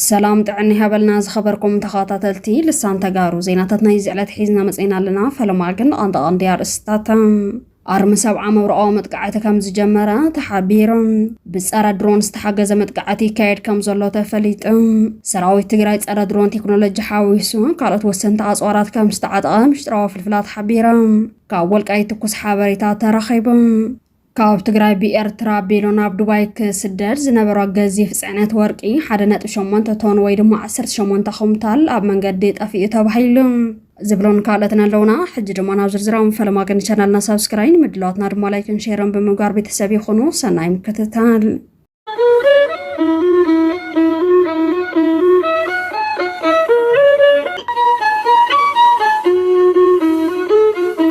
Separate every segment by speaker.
Speaker 1: ሰላም ጥዕና ይሃበልና ዝኸበርኩም ተኸታተልቲ ልሳን ተጋሩ ዜናታት ናይ ዝዕለት ሒዝና መፅና ኣለና። ፈለማ ግን ቐንጠቐንዲ ኣርእስታት ኣርሚ ሰብዓ መብርቓዊ መጥቃዕቲ ከም ዝጀመረ ተሓቢሩ። ብጸረ ድሮን ዝተሓገዘ መጥቃዕቲ ይካየድ ከም ዘሎ ተፈሊጡ። ሰራዊት ትግራይ ጸረ ድሮን ቴክኖሎጂ ሓዊሱ ካልኦት ወሰንቲ ኣጽዋራት ከም ዝተዓጠቐ ምሽጥራዊ ፍልፍላት ሓቢሮም። ካብ ወልቃይት ትኩስ ሓበሬታ ተረኺቡ። ካብ ትግራይ ብኤርትራ ኣቢሉ ናብ ዱባይ ክስደድ ዝነበሮ ገዚፍ ፅዕነት ወርቂ 1.8 ቶን ወይ ድማ 18 ኩምታል ኣብ መንገዲ ጠፊኡ ተባሂሉ ዝብሎን ካልኦትን ኣለውና። ሕጂ ድማ ናብ ዝርዝራም ፈለማ ግን ቻናልና ሳብስክራይን ምድላዋትና ድማ ላይክን ሼርን ብምግባር ቤተሰብ ይኹኑ። ሰናይ ምክትታል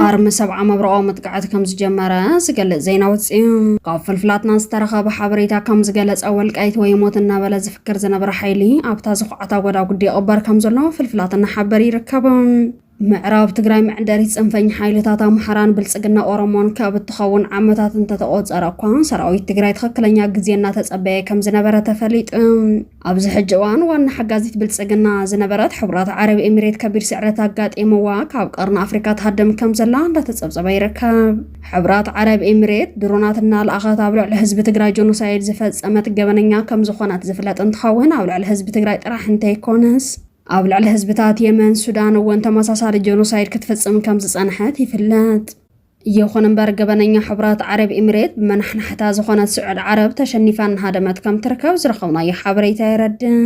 Speaker 1: ኣርሚ ሰብዓ መብረኦ መጥቃዕቲ ከም ዝጀመረ ዝገልጽ ዜና ውፅኡ ካብ ፍልፍላትና ዝተረኸበ ሓበሬታ ከም ዝገለጸ ወልቃይት ወይ ሞት እናበለ ዝዝክር ዝነበረ ሓይሊ ኣብታ ዝኹዓታ ጎዳጉዲ ይቕበር ከም ዘሎ ፍልፍላት እናሓበር ይርከብ። ምዕራብ ትግራይ መዕንደሪት ፅንፈኝ ሓይልታት ኣምሓራን ብልፅግና ኦሮሞን ካብ እትኸውን ዓመታት እንተተቆፀረ እኳ ሰራዊት ትግራይ ትኽክለኛ ግዜ እናተፀበየ ከም ዝነበረ ተፈሊጡ። ኣብዚ ሕጂ እዋን ዋና ሓጋዚት ብልፅግና ዝነበረት ሕቡራት ዓረብ ኤሚሬት ከቢድ ስዕረት ኣጋጢምዋ ካብ ቀርኒ ኣፍሪካ ትሃድም ከም ዘላ እንዳተፀብፀበ ይርከብ። ሕብራት ዓረብ ኤምሬት ድሮናት እናልኣኸት ኣብ ልዕሊ ህዝቢ ትግራይ ጆኖሳይድ ዝፈፀመት ገበነኛ ከም ዝኾነት ዝፍለጥ እንትኸውን ኣብ ልዕሊ ህዝቢ ትግራይ ጥራሕ እንተይኮነስ ኣብ ልዕሊ ህዝብታት የመን፣ ሱዳን እውን ተመሳሳሊ ጆኖሳይድ ክትፍፅም ከም ዝፀንሐት ይፍለጥ። ይኹን እምበር ገበነኛ ሕብራት ዓረብ ኤምሬት ብመናሕናሕታ ዝኾነት ስዑድ ዓረብ ተሸኒፋ እናሃደመት ከም ትርከብ ዝረኸብናዮ ሓበሬታ የረድእ።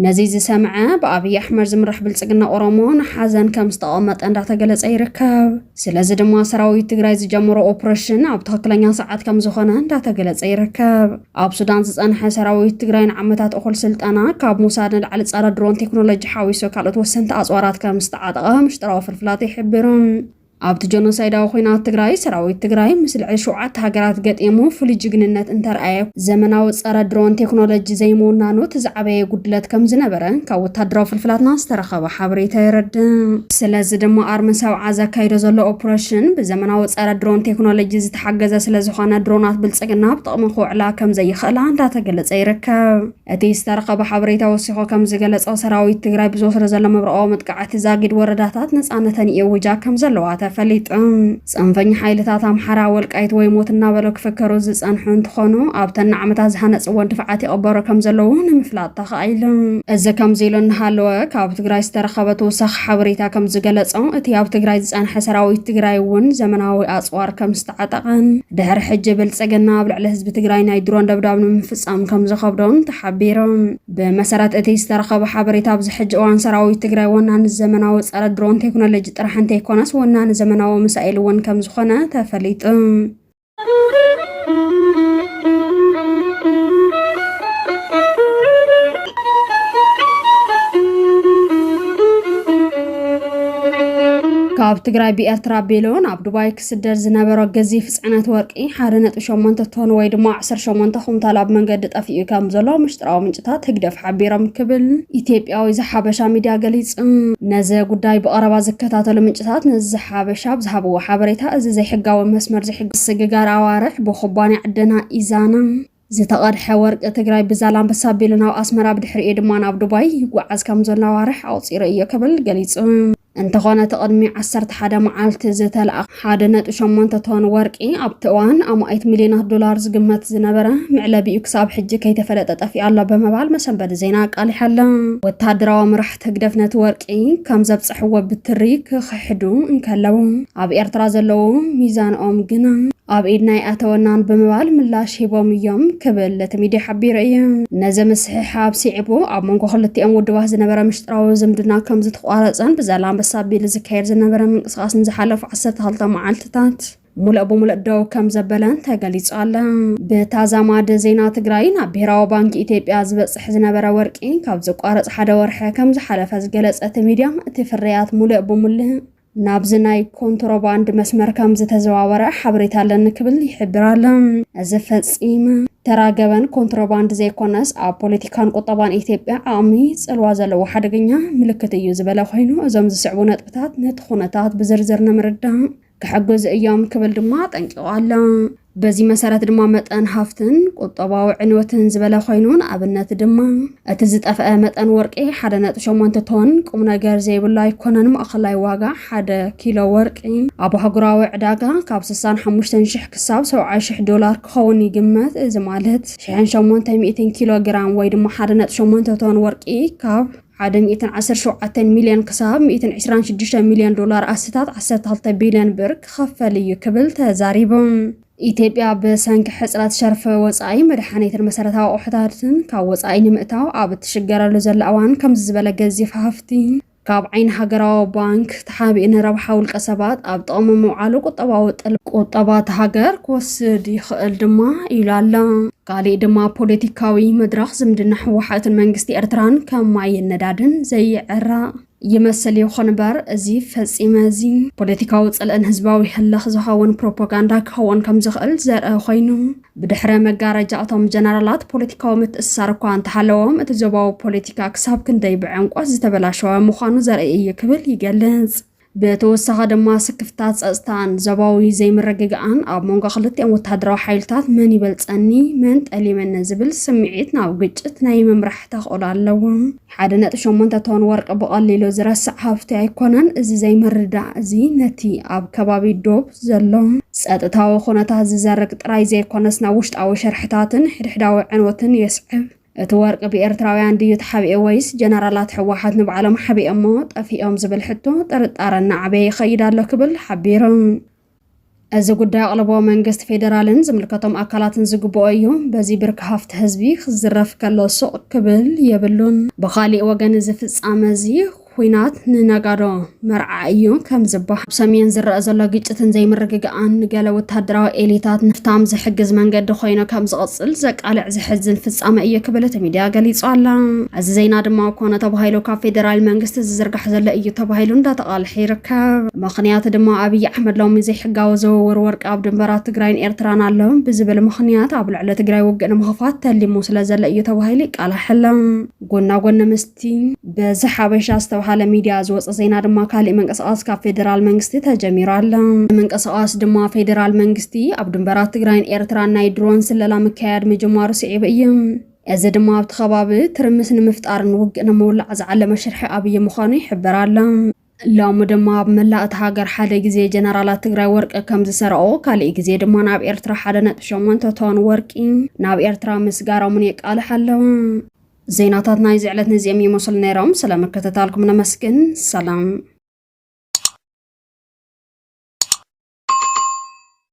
Speaker 1: ነዚ ዝሰምዐ ብኣብይ ኣሕመድ ዝምራሕ ብልፅግና ኦሮሞ ንሓዘን ከም ዝተቐመጠ እንዳተገለፀ ይርከብ። ስለዚ ድማ ሰራዊት ትግራይ ዝጀመሮ ኦፕሬሽን ኣብ ትኽክለኛ ሰዓት ከም ዝኾነ እንዳተገለጸ ይርከብ። ኣብ ሱዳን ዝጸንሐ ሰራዊት ትግራይ ንዓመታት እኹል ስልጠና ካብ ሞሳድ ንላዕሊ ጸረ ድሮን ቴክኖሎጂ ሓዊሱ ካልኦት ወሰንቲ ኣጽዋራት ከም ዝተዓጠቐ ምሽጥራዊ ፍልፍላት ይሕብሩ። ኣብቲ ጀኖሳይዳዊ ኹናት ትግራይ ሰራዊት ትግራይ ምስ ልዕሊ ሸውዓተ ሃገራት ገጢሙ ፍሉይ ጅግንነት እንተርኣየ ዘመናዊ ጸረ ድሮን ቴክኖሎጂ ዘይምውናኑ እቲ ዝዓበየ ጉድለት ከም ዝነበረ ካብ ወታደራዊ ፍልፍላትና ዝተረኸበ ሓበሬታ የረድእ። ስለዚ ድማ ኣርሚ ሰብዓ ዘካይዶ ዘሎ ኦፕረሽን ብዘመናዊ ፀረ ድሮን ቴክኖሎጂ ዝተሓገዘ ስለዝኾነ ድሮናት ብልፅግና ኣብ ጥቕሚ ክውዕላ ከምዘይኽእላ እንዳተገለፀ ይርከብ። እቲ ዝተረኸበ ሓበሬታ ወሲኾ ከምዝገለፆ ሰራዊት ትግራይ ብዝወስዶ ዘሎ መብረቓዊ መጥቃዕቲ ዛጊድ ወረዳታት ነፃነተን ይእውጃ ከምዘለዋ ተፈሊጡ። ፅንፈኛ ሓይልታት ኣምሓራ ወልቃይት ወይ ሞት እናበሉ ክፍከሩ ዝፀንሑ እንትኾኑ ኣብተን ንዓመታት ዝሃነፅወን ድፍዓት ይቕበሩ ከም ዘለዉ ንምፍላጥ ተኻኢሉ። እዚ ከምዚ ኢሉ እናሃለወ ካብ ትግራይ ዝተረኸበ ተወሳኺ ሓበሬታ ከም ዝገለፆ እቲ ኣብ ትግራይ ዝፀንሐ ሰራዊት ትግራይ እውን ዘመናዊ ኣፅዋር ከም ዝተዓጠቐን ድሕሪ ሕጂ ብልፅግና ኣብ ልዕሊ ህዝቢ ትግራይ ናይ ድሮን ደብዳብ ንምፍፃም ከም ዝኸብዶን ተሓቢሩ። ብመሰረት እቲ ዝተረኸበ ሓበሬታ ኣብዚ ሕጂ እዋን ሰራዊት ትግራይ ወናኒ ዘመናዊ ጸረ ድሮን ቴክኖሎጂ ጥራሕ እንተይኮነስ ወናኒ ዘመናዊ ሚሳኤል እውን ከም ዝኾነ ተፈሊጡ። ካብ ትግራይ ብኤርትራ ኣቢሉ ናብ ዱባይ ክስደድ ዝነበሮ ገዚፍ ጽዕነት ወርቂ ሓደ ነጥቢ ሸሞንተ ቶን ወይ ድማ ዓሰርተ ሸሞንተ ኩንታል ኣብ መንገዲ ጠፊኡ ከም ዘሎ ምሽጥራዊ ምንጭታት ህግደፍ ሓቢሮም ክብል ኢትዮጵያዊ ዝሓበሻ ሚድያ ገሊጹ። ነዚ ጉዳይ ብቐረባ ዝከታተሉ ምንጭታት ንዝሓበሻ ኣብ ዝሃብዎ ሓበሬታ እዚ ዘይሕጋዊ መስመር ዝሕግዝ ስግጋር ኣዋርሕ ብኩባንያ ዕደና ኢዛና፣ ዝተቐድሐ ወርቂ ትግራይ ብዛላምበሳ ኣቢሉ ናብ ኣስመራ ብድሕሪኡ ድማ ናብ ዱባይ ይጓዓዝ ከም ዘሎ ኣዋርሕ ኣቑፂሩ እዮ ክብል ገሊፁ። እንተኾነ እቲ ቅድሚ 11 መዓልቲ ዝተለኣ 1.8 ቶን ወርቂ ኣብቲ እዋን ኣማኢት ሚሊዮናት ዶላር ዝግመት ዝነበረ መዕለቢኡ ክሳብ ሕጂ ከይተፈለጠ ጠፊኡ ኣሎ ብምባል መሰንበዲ ዜና ኣቃሊሓ ኣሎ። ወተሃደራዊ መራሕቲ ህግደፍ ነቲ ወርቂ ከም ዘብጽሕዎ ብትሪ ክኽሕዱ እንከለዉ፣ ኣብ ኤርትራ ዘለዉ ሚዛንኦም ግና ኣብ ኢድና ኣይኣተወናን ብምባል ምላሽ ሂቦም እዮም ክብል እቲ ሚድያ ሓቢሩ እዩ። ነዚ ምስሕሓብ ስዒቡ ኣብ መንጎ ክልቲኦም ውድባት ዝነበረ ምሽጥራዊ ዝምድና ከምዝተቋረፀን ብዛላምበሳ ቢል ዝካየድ ዝነበረ ምንቅስቓስ ንዝሓለፉ ዓሰርተ ክልተ መዓልትታት ሙሉእ ብሙሉእ ደው ከም ዘበለን ተገሊጹ ኣለ። ብተዛማዲ ዜና ትግራይ ናብ ብሄራዊ ባንኪ ኢትዮጵያ ዝበጽሕ ዝነበረ ወርቂ ካብ ዝቋረጽ ሓደ ወርሒ ከም ዝሓለፈ ዝገለጸ እቲ ሚድያ እቲ ፍርያት ሙሉእ ብሙሉእ ናብዚ ናይ ኮንትሮባንድ መስመር ከም ዝተዘዋወረ ሓበሬታ ኣለኒ ክብል ይሕብር ኣሎ። እዚ ፈጺመ ተራ ገበን ኮንትሮባንድ ዘይኮነስ ኣብ ፖለቲካን ቁጠባን ኢትዮጵያ ዓቕሚ ጽልዋ ዘለዎ ሓደገኛ ምልክት እዩ ዝበለ ኮይኑ እዞም ዝስዕቡ ነጥብታት ነቲ ኩነታት ብዝርዝር ንምርዳእ ክሕግዙ እዮም ክብል ድማ ኣጠንቂቑ ኣሎ። በዚ መሰረት ድማ መጠን ሃፍትን ቁጠባዊ ዕንወትን ዝበለ ኮይኑ ንኣብነት ድማ እቲ ዝጠፍአ መጠን ወርቂ 1.8 ቶን ቁም ነገር ዘይብሉ ኣይኮነን። ማእኸላይ ዋጋ ሓደ ኪሎ ወርቂ ኣብ ኣህጉራዊ ዕዳጋ ካብ 65,000 ክሳብ 70,000 ዶላር ክኸውን ይግመት። እዚ ማለት 800 ኪሎ ግራም ወይ ድማ 1.8 ቶን ወርቂ ካብ ሓደ ሚእትን ዓሰርተ ሸውዓተን ሚልዮን ክሳብ ሚእትን ዕስራን ሽዱሽተን ሚልዮን ዶላር ኣስታት ዓሰርተ ክልተ ቢልዮን ብር ክኸፈል እዩ ክብል ተዛሪቡ። ኢትዮጵያ ብሰንኪ ሕፅረት ሸርፊ ወፃኢ መድሓኒትን መሰረታዊ ኣቑሑታትን ካብ ወፃኢ ንምእታው ኣብ እትሽገረሉ ዘላ እዋን ከምዚ ዝበለ ገዚፍ ሃፍቲ ካብ ዓይኒ ሃገራዊ ባንክ ተሓቢኡ ንረብሓ ውልቀ ሰባት ኣብ ጥቕሚ ምውዓሉ ቁጠባዊ ጥል ቁጠባ እታ ሃገር ክወስድ ይኽእል ድማ ኢሉ ኣሎ። ካሊእ ድማ ፖለቲካዊ መድረኽ ዝምድና ህወሓትን መንግስቲ ኤርትራን ከም ማይን ነዳድን ዘይዕራቕ ይመስል ይኹን እምበር እዚ ፈጺመ እዚ ፖለቲካዊ ጽልእን ህዝባዊ ህልኽ ዝኸውን ፕሮፓጋንዳ ክኸውን ከም ዝኽእል ዘርኢ ኮይኑ ብድሕረ መጋረጃ እቶም ጀነራላት ፖለቲካዊ ምትእስሳር እኳ እንተሃለዎም እቲ ዞባዊ ፖለቲካ ክሳብ ክንደይ ብዕምቆት ዝተበላሸወ ምዃኑ ዘርኢ እዩ ክብል ይገልጽ። ብተወሳኺ ድማ ስክፍታ ጸጥታን ዞባዊ ዘይምርግጋእን ኣብ መንጎ ክልቲኦም ወተሃደራዊ ሓይልታት መን ይበልጸኒ መን ጠሊመኒ ዝብል ስምዒት ናብ ግጭት ናይ ምምራሕ ተኽእሎ ኣለዎ። ሓደ ነጥቢ ሸሞንተ ቶን ወርቂ ብቐሊሉ ዝረስዕ ሃፍቲ ኣይኮነን። እዚ ዘይምርዳእ እዚ ነቲ ኣብ ከባቢ ዶብ ዘሎ ጸጥታዊ ኩነታት ዝዘርግ ጥራይ ዘይኮነስ ናብ ውሽጣዊ ሸርሕታትን ሕድሕዳዊ ዕንወትን የስዕብ። እቲ ወርቂ ብኤርትራውያን ድዩ ተሓቢኤ ወይስ ጀነራላት ሕወሓት ንባዕሎም ሓቢኦሞ ጠፊኦም ዝብል ሕቶ ጥርጣረ እናዓበየ ይኸይድ ኣሎ ክብል ሓቢሩ። እዚ ጉዳይ ኣቕልቦ መንግስቲ ፌደራልን ዝምልከቶም ኣካላትን ዝግብኦ እዩ። በዚ ብርኪ ሃፍቲ ህዝቢ ክዝረፍ ከሎ ሱቕ ክብል የብሉን። ብኻሊእ ወገን እዚ ፍፃመ እዚ ኲናት ንነጋዶ መርዓ እዩ ከም ዝበሃል ኣብ ሰሜን ዝረአ ዘሎ ግጭትን ዘይምርግጋእን ንገለ ወተሃደራዊ ኤሊታት ንፍታም ዝሕግዝ መንገዲ ኮይኑ ከም ዝቕጽል ዘቃልዕ ዘሕዝን ፍጻመ እዩ ክብል እቲ ሚድያ ገሊጹ ኣላ። እዚ ዜና ድማ ኮነ ተባሂሉ ካብ ፌደራል መንግስቲ ዝዝርጋሕ ዘሎ እዩ ተባሂሉ እንዳተቓልሐ ይርከብ። ምኽንያት ድማ ኣብይ ኣሕመድ ሎሚ ዘይሕጋዊ ዝውውር ወርቂ ኣብ ድንበራት ትግራይን ኤርትራን ኣሎ ብዝብል ምኽንያት ኣብ ልዕሊ ትግራይ ውግእ ንምኽፋት ተሊሙ ስለዘሎ እዩ ተባሂሉ ይቃላሕ ኣሎ። ጎና ጎኒ ምስ እቲ በዚ ሓበሻ ዝተብሃለ ሚድያ ዝወፀ ዜና ድማ ካሊእ ምንቅስቓስ ካብ ፌዴራል መንግስቲ ተጀሚሩ ኣሎ። ምንቅስቓስ ድማ ፌዴራል መንግስቲ ኣብ ድንበራት ትግራይን ኤርትራን ናይ ድሮን ስለላ ምክያድ ምጅማሩ ስዒቡ እዩ። እዚ ድማ ኣብቲ ከባቢ ትርምስ ንምፍጣርን ውግእ ንምውላዕ ዝዓለመ ሽርሒ ኣብዪ ምዃኑ ይሕበር ኣሎ። ሎሚ ድማ ኣብ መላእ እቲ ሃገር ሓደ ግዜ ጀነራላት ትግራይ ወርቂ ከም ዝሰረቑ ካሊእ ግዜ ድማ ናብ ኤርትራ ሓደ ነጥቢ ሸሞንተ ቶን ወርቂ ናብ ኤርትራ ምስጋሮምን የቃልሕ ኣለዉ። ዜናታት ናይዚ ዕለት ነዚኦም ይመስሉ ነይሮም። ስለ ምክትታልኩም ነመስግን። ሰላም።